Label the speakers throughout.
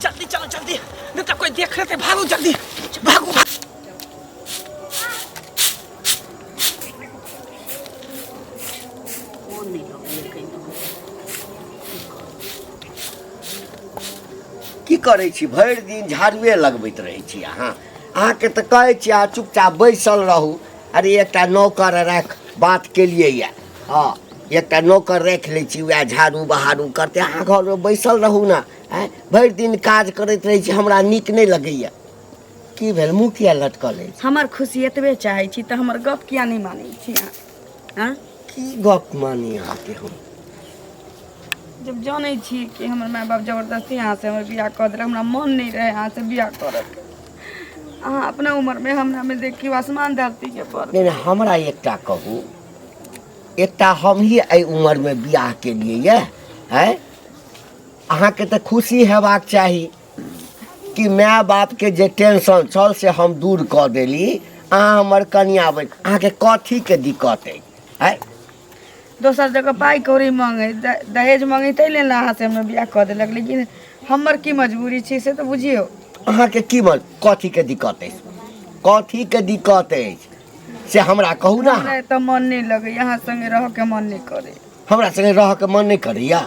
Speaker 1: जल्दी चलो जल्दी नहीं तो
Speaker 2: कोई देख लेते भागो जल्दी भागो की करै छी भरि दिन झाड़ुए लगबैत रहै छी अहाँ अहाँके तऽ कहै छी अहाँ चुपचाप बैसल रहू अरे एकटा नौकर राख बात केलिए यऽ हँ एकटा नौकर राखि लै छी वएह झाड़ू बहारू करतै अहाँ घरमे बैसल रहू ने आँय भरि दिन काज करैत रहै छी हमरा नीक नहि लगैया की भेल मुँह किया लटकल अछि हमर खुशी एतबे
Speaker 3: चाहै छी तऽ हमर गप किया नहि मानै छी अहाँ आँ? की गप
Speaker 2: मानी अहाँके हम
Speaker 3: जब जानै छी कि हमर माय बाप जबरदस्ती अहाँसँ हमर बियाह कऽ देलक हमरा मन नहि रहै अहाँसँ बियाह करऽके अहाँ अपना उमरमे हमरामे देखियौ आसमान धरतीके पर नहि नहि, हमरा एकटा
Speaker 2: कहू एकटा हमही एहि उमरमे बियाह केलियै यए आँय अहाँके तऽ खुशी हेबाक चाही कि माय बापके जे टेंशन छल से हम दूर कऽ देली अहाँ हमर कनिया बनि अहाँके कथीके दिक्कत अइ आय
Speaker 3: दोसर जगह पाइ कौड़ी मांगे द- दहेज मांगे ताहि लेल ने अहाँ से हमरा बियाह कऽ देलक लेकिन हमर की मजबूरी छै से तऽ बुझियौ अहाँके की मन
Speaker 2: कथीके दिक्कत अछि कथीके दिक्कत अछि से हमरा कहू ने अहाँ हमरा एतऽ मन नहि लगैया
Speaker 3: अहाँ संगे रहऽ के मन नहि करे हमरा संगे रह के
Speaker 2: मन नहीं करैया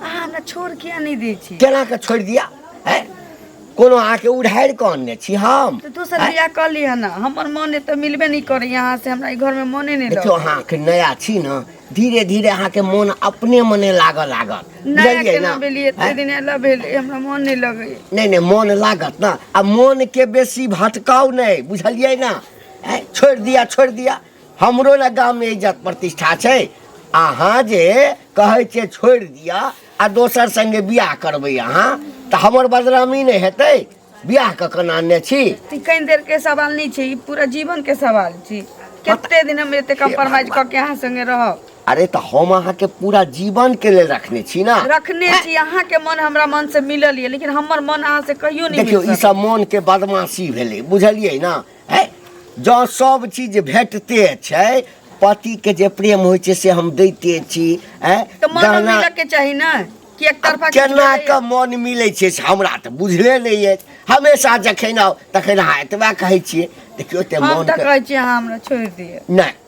Speaker 2: अहाँ हमरा
Speaker 3: छोड़ किया नहीं दै छी केना के छोड़ दिया
Speaker 2: हैं? कोनो अहाँ के उड़ाड़ के अनने छी हम तो दोसर बियाह कर
Speaker 3: लिया ना हमर मन तो मिलबे नहीं करे यहाँ से हमरा ई घर में मने नहीं देखियो लगे अहाँ के नया
Speaker 2: छी
Speaker 3: ना
Speaker 2: धीरे धीरे अहाँ के मन अपने मने लागऽ लागत नया बुझलियै केना
Speaker 3: ना? भेलिए एते हैं? दिन एला भेलिए हमरा मन नहीं लगे नहीं नहीं मन लागत
Speaker 2: ना आ मन के बेसी भटकाव नहीं बुझलियै ना हैं? छोड़ दिया छोड़ दिया हमरो ने गाम में इज्जत प्रतिष्ठा छै अहाँ जे कहै छियै छोड़ि दिअ आ दोसर संगे बियाह करबै अहाँ तऽ हमर बदनामी नहि हेतै बियाह कऽ कऽ नानने छी ई कनि देर के सवाल
Speaker 3: नहीं छै ई पूरा जीवन के सवाल छै कते दिन हम एते कम्प्रोमाइज क के अहाँ संगे रहब अरे तऽ हम
Speaker 2: अहाँके पूरा जीवन के लेल रखने छी ना रखने छी अहाँ के
Speaker 3: मन हमरा मन से मिलल ये लेकिन हमर मन अहाँ से कहियो नहीं देखियौ मिल ई सकल। सब मन के
Speaker 2: बदमाशी भेलै बुझलियै ना है जँ सब चीज भेटते छै पति के जे प्रेम होइ छै से हम दैते छी है तऽ मन गहना
Speaker 3: मिलऽ के चाही ने कि एक तरफा आब केना कऽ मन
Speaker 2: मिलै छै से हमरा तऽ बुझले नहि अछि हमेशा जखन आउ तखन अहाँ एतबा कहै छियै देखियौ ते हम मन तऽ के कहै छी अहाँ हमरा
Speaker 3: छोड़ि दिअ नहि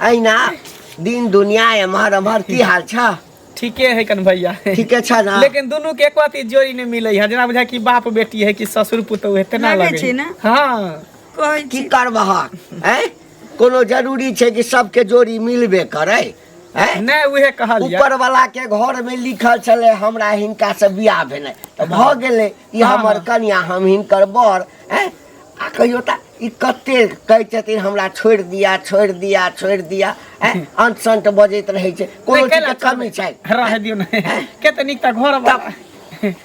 Speaker 2: अहिना दिन दुनिया एम्हर एम्हर की हाल छ ठीके है कन
Speaker 1: भैया ठीके छ न लेकिन
Speaker 2: दुनू के एको अथी
Speaker 1: जोड़ी नहीं मिले है जेना बुझा कि बाप बेटी है कि ससुर पुतोह है तेना लगे छै ना हां
Speaker 3: कहै
Speaker 1: की
Speaker 3: करबह हैं
Speaker 2: कोनो जरूरी छै कि सबके जोड़ी मिलबे करे हैं नहीं उहे
Speaker 1: कहल ऊपर वाला के घर
Speaker 2: में लिखल छले हमरा हिनका से बियाह भेने त भ गेले ई सएह हमर ने। कनिया हम हिनकर बड़ हैं आ कहियो ता ई कते कहै छथिन हमरा छोड़ि दिया छोड़ि दिया छोड़ि दिया हैं अंत संत बजैत रहै छै कोनो नहि, कैला चीज के कमी छै छोड़बै? रहऽ दियौ ने
Speaker 1: कते नीक तऽ घर तब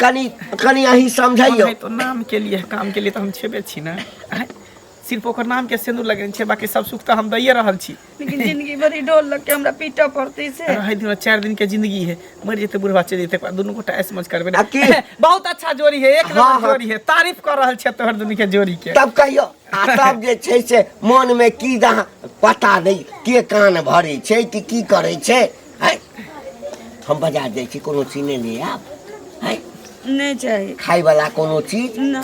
Speaker 1: कनि
Speaker 2: कनि अहीं समझैयौ समझाइयो तो नाम के लिए
Speaker 1: काम के लिए तो हम छेबे छी ना आँय? सिर्फ ओकर नाम के सिंदूर लगेने छै बाकी सब सुख तऽ हम दैये रहल छी लेकिन जिंदगी भरि
Speaker 3: डोल लग के हमरा पीटऽ पड़तै से रहै दिन चारि दिन के
Speaker 1: जिंदगी है मरि जेतै बुढ़वा चलि जेतै ओकरा दुनू गोटा ऐस मौज करबै आ की? ने बहुत अच्छा जोड़ी है एक हाँ, नंबर हाँ। जोड़ी है तारीफ कर रहल छै तोहर दुनू के जोड़ी के तब कहियो आ
Speaker 2: तब जे छै से मन में की जहाँ पता दै के कान भरै छै कि की करै छै हैं? हम बाजार जाइ छी कोनो चीज नहि ले आयब हैं? नहि
Speaker 3: चाही खायवला कोनो
Speaker 2: चीज ना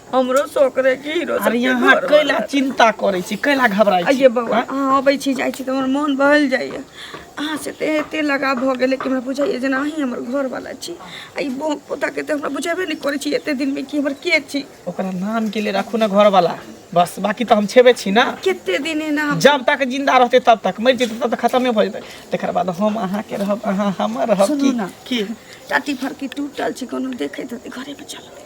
Speaker 3: हमरो शौक रहे कि हीरो अरे सबके यहाँ घर कैला वाला।
Speaker 1: चिंता करे छी कैला घबराई छी आइए बाबा अहाँ अबै
Speaker 3: छी जाइ छी तऽ हमर मोन बहल जाइए अहाँ से तऽ एते लगाव भऽ गेलै कि हमरा बुझाइए जेना अहीं हमर घरवाला छी आ ई बो पोताके तऽ हमरा बुझेबे
Speaker 1: नहि
Speaker 3: करै छी
Speaker 1: एते
Speaker 3: दिनमे कि
Speaker 1: हमर
Speaker 3: के
Speaker 1: छी ओकरा
Speaker 3: नाम
Speaker 1: के
Speaker 3: लिए राखू
Speaker 1: ना
Speaker 3: घर वाला बस
Speaker 1: बाकी तो हम छेबे छी ना कते दिन एना हम
Speaker 3: जब तक जिंदा रहते
Speaker 1: तब तक मर जेते तब तक खत्म नहीं हो जेते तेकर बाद हम अहाँ के रहब अहाँ हमर रहब सुनू की ना। की
Speaker 3: टाटी
Speaker 1: फरकी
Speaker 3: टूटल छै कोनो देखैत होतै घरेमे चलबै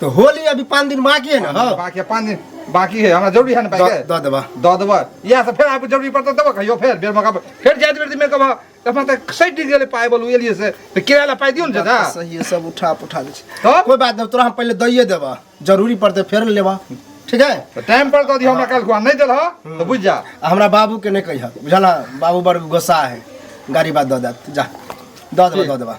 Speaker 4: तो होली अभी
Speaker 5: पाँच दिन बाकी है ना हो बाकी पाँच दिन
Speaker 4: बाकी है हमरा जरूरी है ना पैसे दऽ देबा दऽ देबऽ
Speaker 5: इएह सब
Speaker 4: फेर आबि जरूरी पड़तौ देबऽ कहियो फेर बेर मौका पर। फेर जाइत बेर मेरे कहबऽ तऽ हमरा तऽ सटि गेलै पाइ बोलू एलियै से तऽ किराया लए पाइ दियौ ने चाचा सही है सब उठा पुठा
Speaker 5: दै छै तब कोई बात नहीं तोरा हम
Speaker 4: पहले
Speaker 5: दइए देबा जरूरी पड़ते फेर लेबा ठीक है तऽ टाइम पर दऽ दियौ हमरा
Speaker 4: काल्हि खुआ नहि देलह तऽ बुझि जा आ हमरा बाबू के नहीं
Speaker 5: कहिया बुझल है? बाबू बड़ गोस्सा है गाड़ी बात दऽ देत जा दऽ देबा दऽ देबा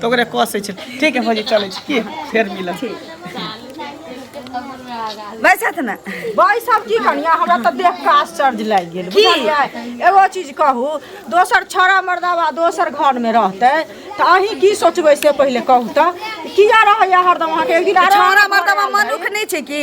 Speaker 1: तऽ ओकरे कसै छै ठीक है भौजी चलै छी की फेर मिलब
Speaker 3: बैसत ने बैसब की
Speaker 6: कनिया हमरा तऽ देख कऽ आश्चर्य लागि गेल बुझलियै
Speaker 3: एगो चीज
Speaker 6: कहू दोसर छौड़ा मर्दावा दोसर घरमे रहतै तऽ अहीं की सोचबै से पहिले कहू तऽ किया रहैया हरदम अहाँके एक दिन छौड़ा मर्दावा मनुख
Speaker 3: नहि छै की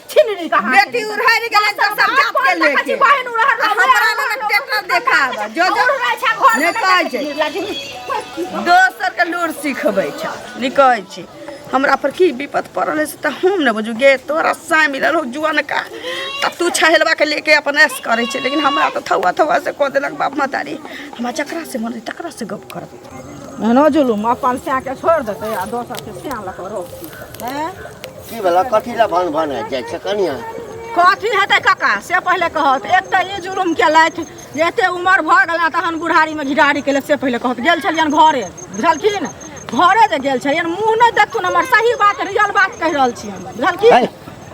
Speaker 6: छीन ली कहां बेटी उड़हर गेल
Speaker 3: एकदम सब जात के लेके बहन उड़हर आ
Speaker 6: हमरा लग टेटर
Speaker 3: देखाब जो जो उड़हर छै घर नहि कहै छै। दोसर के लूर सिखबै छ नहि कहै छी हमरा पर की विपत पड़ल है से तऽ हम ने बुझू गे तोरा साय मिलल हो जुअन का तऽ तू छहेलवा के लेके अपन ऐस करै छै लेकिन हमरा तऽ थौआ थौआ से कऽ देलक बाप महतारी हमरा जकरा से मन है तकरा से गप करब एहनो जुलूम अपन
Speaker 6: सएके छोड़ि देतै आ दोसरके सएह लऽ कऽ रोकतै हैं? की भेला
Speaker 2: कथी लए भन भन आबि जाइ छै कनिया कथी हेतै
Speaker 6: कक्का से पहिले कहत एक तऽ ई जुलूम केलथि जे एते उमर भऽ गेल आ तहन बुढ़ारीमे घिडारी केलक से पहिले कहत गेल छलियनि घरे बुझलखिन घरे जे गेल छलियनि मुँह नहि देखथुन हमर सही बात रियल बात कहि रहल छी हम बुझलखिन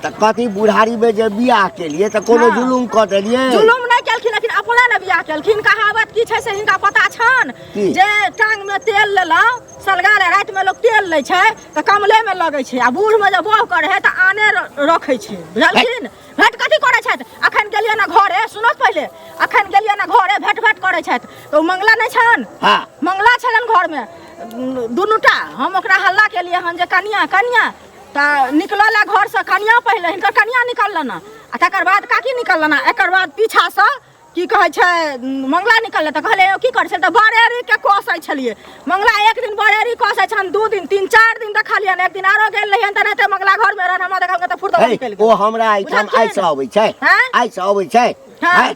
Speaker 6: तऽ कथी
Speaker 2: बुढ़ारी में जे बियाह केलिए तऽ कोनो हाँ। जुलुम कऽ देलिए जुलुम नहि केलखिन लेकिन
Speaker 6: अपने ने बियाह केलखिन कहावत की छै से हिनका पता छन की? जे टांग
Speaker 2: में
Speaker 6: तेल लेलहुँ सलगा ले राति में लोग तेल लै छै तऽ कमले में लगै छै आ बूढ़ में जे बोह करे है तऽ आने र- रखै छै बुझलखिन भेट कथी करै छथि अखन गेलियै ने घरे सुनो पहिले अखन गेलियै ने घरे भेट भेट करै छथि तऽ ओ मंगला नहि छन हाँ मंगला
Speaker 2: छलन घर
Speaker 6: में दुनूटा हम ओकरा हल्ला केलियै हन जे कनिया कनिया तऽ निकलल है घरसँ कनिया पहिले हिनकर कनिया निकललनि आ तकर बाद काकी निकललनि एकर बाद पीछासँ की कहै छै मंगला निकललै तऽ कहलै की करै छै तऽ बरेरीके कसै छलियै मंगला एक दिन बरेरी कसै छनि दू दिन तीन चारि दिन देखलियनि एक दिन आरो गेल रहियनि तऽ रहते मंगला घरमे रहनि हमरा देखल तऽ फुर्त निकलि गेल ओ हमरा एहिठाम आइसँ
Speaker 2: अबै छै आँय? आइसँ अबै छै हँ। आँय?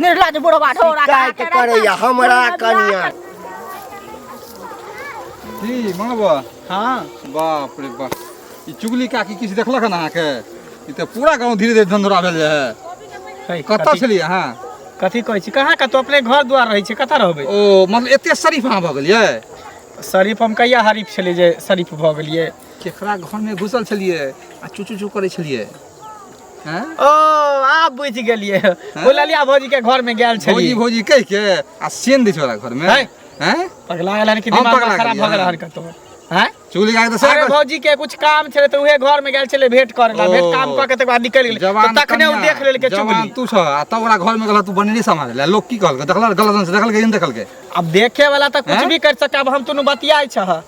Speaker 2: निर्लज
Speaker 6: बुढ़वा
Speaker 2: ढोरा
Speaker 4: का शिकायत चढ़ल करैया बा। हमरा बुढ़वा कनिया की मनबा
Speaker 1: हाँ बाप रे
Speaker 4: बाप ई चुगली काकी किछु देखलक हन अहाँके ई तऽ पूरा गाँव धीरे धीरे धंधोरा भेल जाय है कतऽ छलियै अहाँ कथी कहै छी
Speaker 1: कहाँ कतौ अपने घर द्वार रहै छै कतऽ रहबै ओ मतलब एते शरीफ
Speaker 4: अहाँ भऽ गेलियै शरीफ हम
Speaker 1: कहिया हरीफ छलियै जे शरीफ भऽ गेलियै केकरा घरमे
Speaker 4: घुसल छलियै आ चुचू चू करै छलियै ओ
Speaker 1: आब बुझि गेलिए ओ ललिया भौजी के घर में गेल छली भौजी भौजी कह के
Speaker 4: आ सेन दै छोरा घर में हैं हैं पगला गेल कि
Speaker 1: दिमाग खराब भ गेल हन कतो हैं चूली गाय तो अरे
Speaker 4: भौजी के कुछ
Speaker 1: काम छले तो उहे घर में गेल छले भेंट करे ला भेंट काम क के तक बाद निकल गेल तो तखने उ देख लेल के चुगली तू छ आ तब ओकरा
Speaker 4: घर में गेल तू बनने संभाल ले लोग की कहल देखल गलत से देखल के देखल के अब देखे वाला त
Speaker 1: कुछ भी कर सके अब हम तुनु बतियाई छ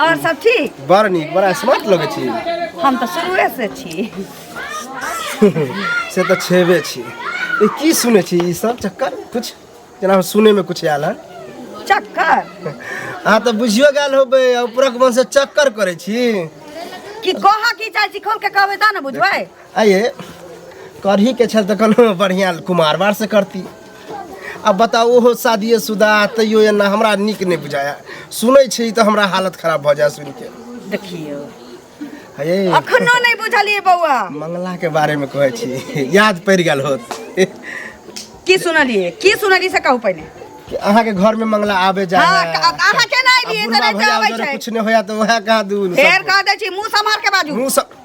Speaker 3: और सब ठीक बड़ नीक बड़ा स्मार्ट
Speaker 5: लगै छी हम तऽ शुरुए
Speaker 3: से छी
Speaker 5: से तऽ छेबे छी ई की सुनै छी ई सब चक्कर कुछ जेना हम सुनैमे कुछ आयल हन चक्कर
Speaker 3: अहाँ तऽ
Speaker 5: बुझियो गेल होबै आ उपरक मन से चक्कर करै छी कि
Speaker 3: कहा की चाहे छी खोल के कहबे ता ने बुझबै आइए
Speaker 5: करही के छल तऽ कोनो बढ़िआँ कुमारवारसँ करती आ बताउ ओहो शादिये शुदा तैयो एना हमरा नीक नहि बुझाया सुनै छी तऽ हमरा हालत खराब भऽ जाय सुनि के देखियौ
Speaker 3: हे
Speaker 5: अखनो नहि
Speaker 3: बुझलियै बौआ मंगला के बारे में
Speaker 5: कहै छी याद पड़ि गेल होत
Speaker 3: की सुनलियै की सुनलियै से कहू पहिने कि अहाँके घर
Speaker 5: में मंगला आबे जा हाँ, है। अ- अहाँ केना
Speaker 3: आ एलियै से बुढ़बा नहीं भैया आबै उधर छै। कुछ नहीं होया तो वह कहा
Speaker 5: दून फेर कह दै छी मुँह
Speaker 3: सम्हार के बाजू मुंह सब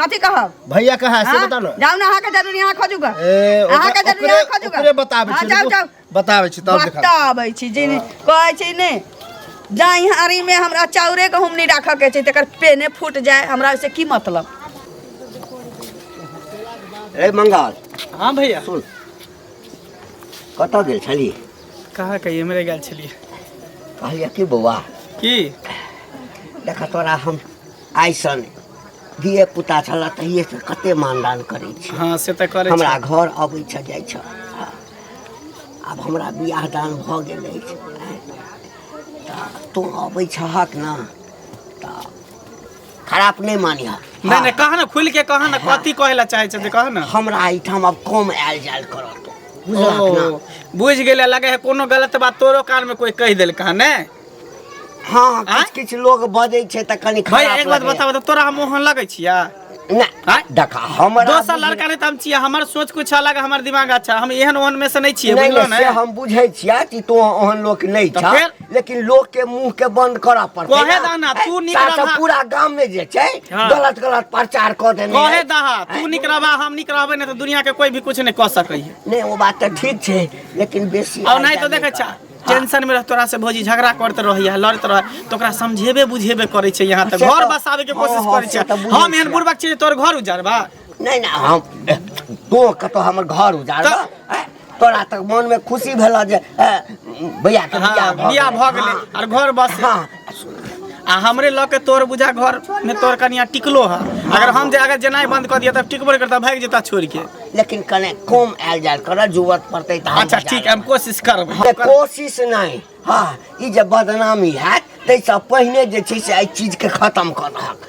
Speaker 5: कथी कहब
Speaker 3: भैया कहाँ है से हाँ? बता
Speaker 5: ना जाऊ ना अहाँ के जरूरी अहाँ
Speaker 3: खोजू गा ए, ओकरा- अहाँ के
Speaker 5: जरूरी ओकरे-
Speaker 3: अहाँ खोजू गा
Speaker 5: ओकरे बताबै हाँ, छी,
Speaker 3: जाऊ रुकू।
Speaker 5: जाऊ बताबै छी तब देखा
Speaker 3: बताबै छी जे नहि- कहै छी ने जाई हारी में हमरा चाउरे के हम नहीं राखऽ के छै तकर पेने फूट जाए हमरा से की मतलब
Speaker 2: ए मंगाल हाँ
Speaker 1: भैया
Speaker 2: सुन
Speaker 1: कतऽ
Speaker 2: गेल छली
Speaker 1: कहाँ कहिए मेरे गेल छलिए कहलियै
Speaker 2: कि बौआ की देखा तोरा हम आइसन धिये पुता छलए तहिए से कते मानदान करै छी हँ से तऽ करै हमरा छै
Speaker 1: घर अबै छ
Speaker 2: जाइ छ आब हमरा बियाह दान भऽ गेल अछि तऽ तू अबै छहक ने तऽ खराब नहि मानिह नहि नहि कह ने खुलि
Speaker 1: के कह ने कथी कहै लए चाहै छथिन कह ने हमरा एहिठाम आब कम
Speaker 2: आयल जायल करत बुझलहक ने ओ बुझि गेलै लगे
Speaker 1: है कोनो गलत बात तोरो कान में कोई कह देलका ने हाँ
Speaker 2: आँय? किछु किछु लोग बजै छै तऽ कनि भाई खराब एक बात लगैए। बताबऽ तऽ
Speaker 1: तोरा हम
Speaker 2: मोहन
Speaker 1: लगै छिया नहि आँय?
Speaker 2: देखा हमर दोसर लड़का नहि तऽ हम
Speaker 1: छियै हमर सोच कुछ अलग हमर दिमाग अच्छा हम एहन ओहन में से नहीं छियै नहीं बुझलो नहीं, से ने हम बुझै छियै कि
Speaker 2: तू ओहन लोक नहीं तऽ छा फेर? लेकिन
Speaker 1: लोक के
Speaker 2: मुंह के बंद करऽ पड़तै कहे दह ना, तू नीक
Speaker 1: तार से रहा। पूरा गांव में जे
Speaker 2: छै हाँ। गलत गलत
Speaker 1: प्रचार
Speaker 2: कऽ देने कहे है। दहा तू
Speaker 1: निक रहबा हम निक रहबै ने तऽ दुनिया के कोई भी कुछ नहीं कह सकै है नहीं वो बात तो ठीक
Speaker 2: छै लेकिन बेसी और नहीं तो आइडिया देखे करा। छा
Speaker 1: टेंशन में रह तोरा से भौजी झगड़ा करते रही है लड़ते रह तो ओकरा समझेबे बुझेबे करे छै यहाँ तक से घर तो- बसावे के हाँ, कोशिश हाँ,
Speaker 2: करे
Speaker 1: से तो छै बुझै
Speaker 2: हम
Speaker 1: एहन छै।
Speaker 2: बुढ़बक छियै जे तोर घर
Speaker 1: उजारबा नहीं ना हम
Speaker 2: तो कतो हमर घर उजाड़ तऽ- तोरा तक मन में खुशी भेला जे ए, भैया के हाँ, बियाह भऽ बियाह गेलै। भऽ गेलै
Speaker 1: हाँ। आर घर बस हाँ
Speaker 2: आ
Speaker 1: हमरे लऽ के तोर बुझा घर में तोर कनिया टिकलो है अगर हम जे अगर जेनाइ बंद कर दिया तब टिकबो नहीं करता भाग जेता छोड़ के लेकिन कने कम
Speaker 2: आयल जायल कर जरूरत पड़ते तो हम अच्छा ठीक है हम कोशिश
Speaker 1: करब जे कोशिश नहीं
Speaker 2: हाँ ई जे बदनामी हैत ताहिसँ पहिने जे छै से एहि चीजके खत्म कऽ दहक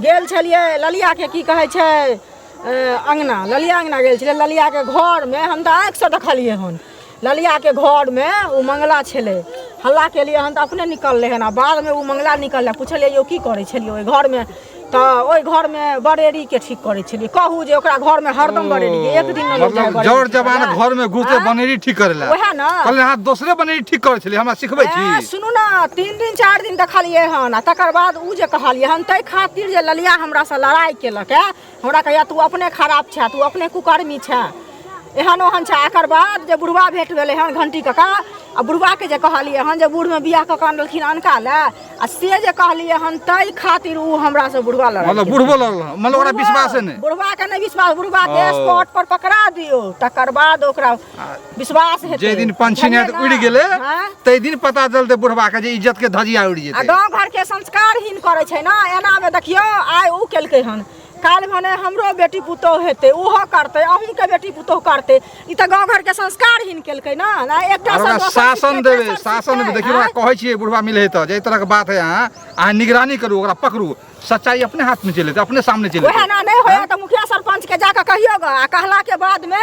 Speaker 6: गेल छलियै ललिया के की कहै छै अङ्गना ललिया अङ्गना गेल छलै ललियाके घरमे हम तऽ आँखिसँ देखलियै हन ललियाके घरमे ओ मंगला छलै हल्ला केलियै हन तऽ अपने निकललै हन आ बादमे ओ मंगला निकललै पुछलियै यौ की करै छलियै ओहि घरमे तऽ ओहि घरमे बरेरीके ठीक करै छलियै कहू जे ओकरा घरमे हरदम बरेरी एक दिन मतलब जड़ जवान घरमे
Speaker 4: घुसते बनेरी ठीक करै लए ओएह ने कहलियै अहाँ
Speaker 6: दोसरे बनेरी
Speaker 4: ठीक करै छलियै हमरा सिखबै छी सुनू ने तीन दिन
Speaker 6: चारि दिन देखलियै हन आ तकर बाद ओ जे कहलियै हन ताहि खातिर जे ललिया हमरासँ लड़ाइ केलक है हमरा कहैया तू अपने खराब छे तू अपने कुकर्मी छे एहन ओहन छे एकर बाद जे बुढ़वा भेट भेलै हन घंटी कका आ बुढ़वाके जे कहलियै हन जे बूढ़मे बियाह कऽ कऽ अनलखिन अनका लए आ से जे कहलियै हन ताहि खातिर ओ हमरासँ बुढ़वा लड़ाइ मतलब केलक। बुढ़बो लड़ल मतलब
Speaker 4: ओकरा विश्वासे नहि बुढ़वा के नहि विश्वास
Speaker 6: बुढ़वा के हँ। स्पॉट पर पकड़ा दियो तकर बाद ओकरा विश्वास हेतै जे दिन पंछी ने उड़
Speaker 4: गेले ते दिन पता चलते बुढ़वा के जे इज्जत के धजिया उड़ जेते गांव घर के संस्कार
Speaker 6: हिन करे छै ना एना में देखियो आय उ केलके हन काल भने हमरो बेटी पुतो हेते ओहो करते अहूं के बेटी पुतो करते इ त गांव घर के संस्कार हिन केलके ना ना एकटा से शासन
Speaker 4: देबे
Speaker 6: शासन
Speaker 4: देबे
Speaker 6: देखियो कहै
Speaker 4: छियै
Speaker 6: बुढ़वा
Speaker 4: मिले त जे तरह के बात है अहाँ अहाँ निगरानी करू ओकरा पकड़ू सच्चाई अपने हाथ में चले अपने सामने चले ओहे ना नहीं होया त
Speaker 6: मुखिया सरपंच के जाके कहियो ग आ कहला के बाद में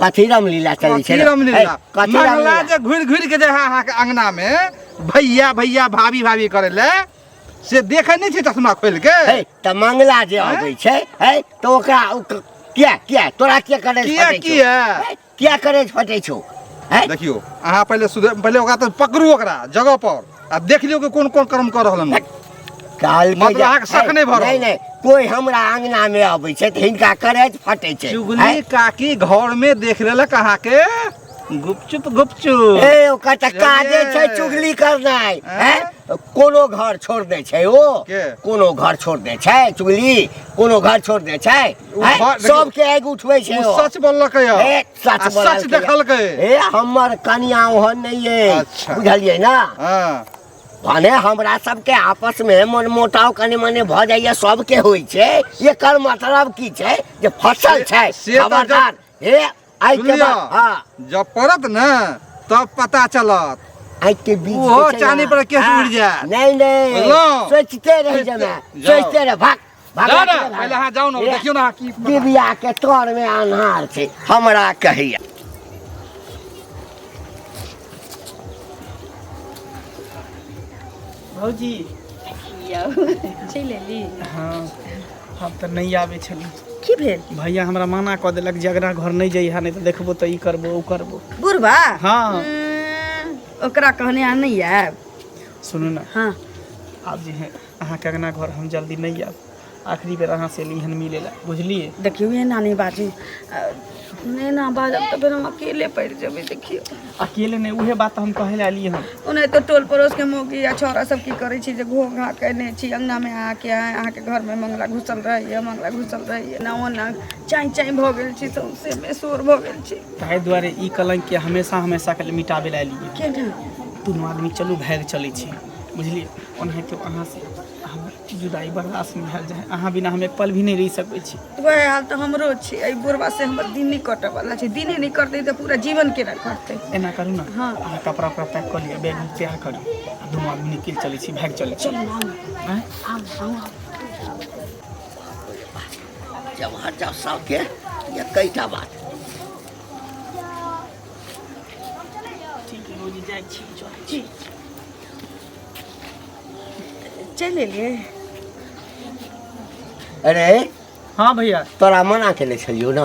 Speaker 2: कथी रामलीला चलै छै कथी रामलीला है, कथी मंगला
Speaker 4: रामलीला
Speaker 2: जे घुरि
Speaker 4: घुरि के
Speaker 2: जे है
Speaker 4: अहाँके अंगना में भैया भैया भाभी भाभी करे ले से देखे नहीं छै चश्मा खोल के है तऽ मंगला
Speaker 2: जे हैं? अबै छै है तऽ ओकरा ओ क- किया किया तोरा किया करे किया, फटै छौ? किया? है,
Speaker 4: किया करे
Speaker 2: फटै छौ है देखियो अहाँ पहिले
Speaker 4: सुधर पहिले ओकरा तऽ पकड़ू ओकरा जगह पर आब देख लियौ कि कोन कोन कर्म कऽ रहल हन काल
Speaker 2: मतलब अहाँके शक नहि भऽ रहल। नहीं
Speaker 4: नहीं कोई हमरा
Speaker 2: अंगना में अबै छै तऽ हिनका करैत फटै छै चुगली काकी
Speaker 4: घर में देख लेलक अहाँ के
Speaker 2: गुपचुप गुपचुप ए ओकर तऽ
Speaker 4: काजे
Speaker 2: छै बुझलियै? चुगली करनाइ आँय? हैं? कोनो घर छोड़ दै छै ओ के? कोनो घर
Speaker 4: छोड़ दै
Speaker 2: छै चुगली कोनो घर छोड़ दै छै ओ हैं? घर- देखियौ, सबके
Speaker 4: आगि उठबै
Speaker 2: छै ओ ओ। सच बोललकै यऽ ए,
Speaker 4: आ सच बोलल
Speaker 2: सच
Speaker 4: देखल के ए हमर
Speaker 2: कनिया ओहन नहीं है अच्छा। बुझलिए ना हाँ
Speaker 4: भने
Speaker 2: हमरा सबके आपस में मन मोटाव कनी मनी भ जाइए सबके होइ छै एकर मतलब की छै जे फसल छै से- से तऽ खबरदार
Speaker 4: हे
Speaker 2: आइ के सुनियौ। बाद हाँ
Speaker 4: जब
Speaker 2: पड़त ने
Speaker 4: तब पता चलत आइ के बीच
Speaker 2: ओहो जे छै ने, चानी पर केस
Speaker 4: हाँ,
Speaker 2: उड़ि जायत।
Speaker 4: नहीं
Speaker 2: नहीं
Speaker 4: बुझलहुँ?
Speaker 2: सोचते
Speaker 4: रह जाना
Speaker 2: जाउ। सोचते रह भाग भाग जा ना के ना। पहिले अहाँ जाउ ने ए,
Speaker 4: देखियौ ने अहाँ की डिबिया के तर
Speaker 2: में अन्हार छै हमरा कहैया
Speaker 1: भौजी
Speaker 3: चलि एली हँ
Speaker 1: हम तऽ नहि आबै छली की भेल भैया
Speaker 3: हमरा मना कऽ
Speaker 1: देलक जे अगरा घर नहि जइहा नहि तऽ देखबो तऽ ई करबो ओ करबो बुढ़बा हँ
Speaker 3: ओकरा कहने आ नहि आयब सुनू ने
Speaker 1: हँ आब
Speaker 3: जे है
Speaker 1: अहाँके अङ्गना घर हम जल्दी नहि आएब आखिरी बेर अहाँसँ अएली हँ मिलैलए बुझलिए देखिऔ ने एना नहि बाजू
Speaker 3: नहि एना बाजब तऽ फेर हम अकेले पड़ि जेबै देखिऔ अकेले नहि उहे
Speaker 1: बात हम कहै लए अएली हँ ओना तऽ टोल पड़ोसके
Speaker 3: मौगी या छौड़ा सब की करै छी जे घो घा केने छी अङ्गनामे आके अहाँके घरमे मंगला घुसल रहैए मंगला घुसल रहैए ना ओना चाँइ चाँइ भऽ गेल छी सौंसे बेसोर भऽ गेल छी ताहि दुआरे ई
Speaker 1: कलङ्कके हमेशा हमेशाके लेल मिटाबै लए अएली हँ केना दुनू
Speaker 3: आदमी
Speaker 1: चलू भागि चलै छी बुझलियै ओनाहितो अहाँ से हमर जुदाई बर्दाश्त नहि भेल जाय अहाँ बिना हम एक पल भी नहि रहि सकैत छी वएह हाल तऽ हमरो
Speaker 3: छै एहि बुढ़वा से हमर दिन नहि कटऽ वाला छै दिने नहि करतै तऽ पूरा जीवन केना करतै एना करू ने हँ।
Speaker 1: अहाँ कपड़ा उपड़ा
Speaker 3: पैक कऽ
Speaker 1: लिअ बैग उग तैयार करू आ दुनू आदमी निकलि चलै छी भागि चलै छी आँय?
Speaker 2: जब हर जब सबके एकैटा बात ठीक
Speaker 1: है भौजी जाइ
Speaker 3: छी चल
Speaker 2: छी चलि एलियै अरे हाँ भैया
Speaker 1: तोरा मना केने
Speaker 2: छलियौ ने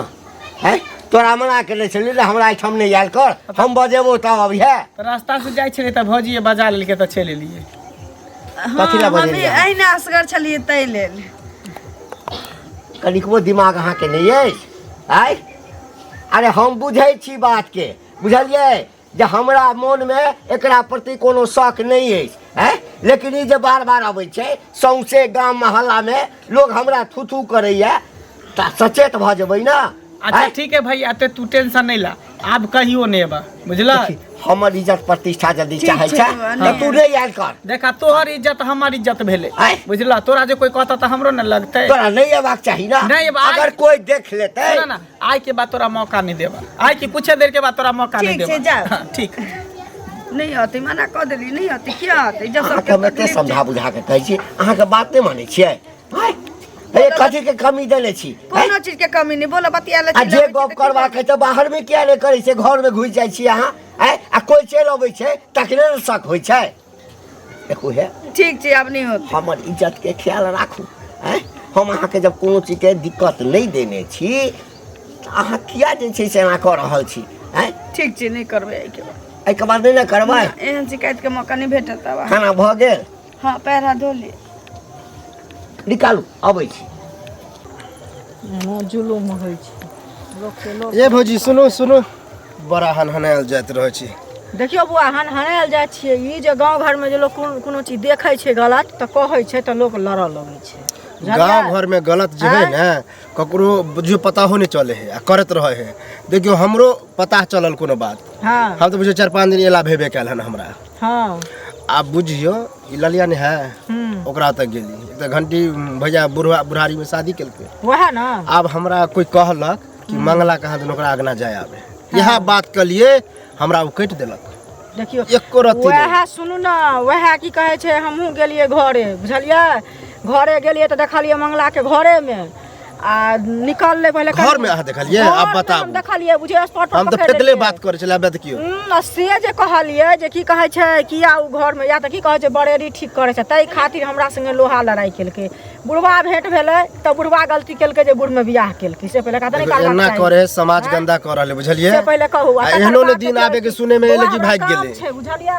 Speaker 2: हैं तोरा मना केने छलियौ ने हमरा एहिठाम नहि आयल कर हम बजेबो तब अब है तऽ रास्ता से जाइ
Speaker 1: छलियै तऽ भौजी बजा लेलकै तऽ चलि एलियै कथी
Speaker 2: लए हँ बजै हमे रहियै? अहिना असगर
Speaker 3: छलियै ताहि लेल
Speaker 2: कनिकबो दिमाग अहाँके नहि अछि आय अरे हम बुझै छी बातके बुझलियै जे हमरा मोनमे एकरा प्रति कोनो शौक नहि अछि हैं लेकिन ई जे बार बार अबै छै सौंसे गाम मोहल्लामे लोग हमरा थू थू करैए तऽ सचेत भऽ जेबै ने अच्छा हैं? ठीक है
Speaker 1: भैया ते
Speaker 2: तू
Speaker 1: टेंशन नहीं ला अब कहियो नहीं बा बुझला हमर इज्जत
Speaker 2: प्रतिष्ठा यदि ठीक चाहै छै, छै अने। तऽ
Speaker 3: तू नहि आयल
Speaker 2: कर देखा तोहर इज्जत
Speaker 1: हमर इज्जत भेलै आय। बुझला तोरा जे
Speaker 2: कोई
Speaker 1: कहता तऽ हमरो ने लगतै तोरा नहि अयबाक चाही
Speaker 2: ना नहि अयबाक। अगर कोई
Speaker 1: देख लेतै
Speaker 2: ना ना आय के बाद
Speaker 1: तोरा मौका नहीं देबा आय के कुछ देर के बाद तोरा मौका नहीं ठीक छै, देबा जाओ।
Speaker 3: हाँ,
Speaker 1: ठीक नहीं
Speaker 3: आते मना कह देली नहीं आते क्या आते जब अहाँके सबके हम एते तकलीफ समझा
Speaker 2: बुझा कऽ कहै छी अहाँके बात नहि मानै छियै भाई अरे कथी के कमी देले छी हैं? कोनो चीज के कमी नहीं
Speaker 3: बोलो बतिया ले आ जे गप करवा के
Speaker 2: तऽ बाहर में किया नहि करै छै घर में घुस जाइ छी अहाँ हैं? आ कोई चलि अबै छै तकरे ने शक होइ छै देखू हे ठीक छै अब नहीं होत
Speaker 3: हमर इज्जत के ख्याल
Speaker 2: राखू हैं? हम अहाँके जब कोनो चीज के दिक्कत नहि देने छी तऽ अहाँ किया जे छै से एना कऽ रहल छी हैं? ठीक छै नहीं करबे
Speaker 3: एके बार एहिके बाद नहि ने करबै
Speaker 2: एहन शिकायत के मौका
Speaker 3: नहीं भेटत अब खाना भऽ गेल
Speaker 2: हाँ पैर
Speaker 3: हाथ
Speaker 2: धो लिए निकालू अबै छी एना
Speaker 6: जुलूम होइ छै लोकके लोक ए भौजी सुनू सुनू
Speaker 5: बड़ा हनहनायल जाइत रहै छी देखियौ बौआ हन
Speaker 6: हनायल जाइ छियै ई जे गाँव घरमे जे लोक कोनो- कोनो चीज देखै छै गलत तऽ कहै छै तऽ लोक लड़ऽ लगै छै बुझलियै? गाँव घर में
Speaker 5: गलत जे है ना ककरो बुझियो पता हो नहीं चले है आ करत रहे है देखियो हमरो पता चलल कोनो बात हाँ हम तो बुझियो चार
Speaker 6: पाँच दिन
Speaker 5: एला भेबे कैल हन हमरा हँ
Speaker 6: आब बुझियौ
Speaker 5: ई ललिया ने है हूँ ओकरा तक गेली ई तऽ घंटी भैया बुढ़वा बुढ़ारी में शादी केलकै वएह ने आब
Speaker 6: हमरा कोई
Speaker 5: कहलक कि मंगला कहाँ दिन ओकरा अगना जाय आबे इएह बात के लिए हमरा ओ कटि देलक देखियौ एको
Speaker 6: रत्ती नहि। वएह
Speaker 5: सुनू ने
Speaker 6: वएह की कहै छै हमहूँ गेलियै घरे बुझलियै घरे गेलियै तऽ देखलियै मंगलाके घरेमे आ निकाल ले पहले घर में अहाँ देखलिए
Speaker 5: अब बताब देखलिए बुझे स्पॉट पर
Speaker 6: हम तो पेटले बात करे छला बत
Speaker 5: कियो न से जे
Speaker 6: कहलिए जे की कहै छै कि आ घर में या त की कहै छै बड़ेरी ठीक करे छै तै खातिर हमरा संगे लोहा लड़ाई केलके बुढ़वा भेंट भेले त बुढ़वा गलती केलके जे बुढ़ में बियाह केलके से पहले कहत निकाल ना करे समाज हाँ?
Speaker 5: गंदा कर रहले बुझलिए से पहले कहू एहनो
Speaker 6: ने दिन आबे
Speaker 5: के सुने में एले कि भाग गेले छै बुझलिए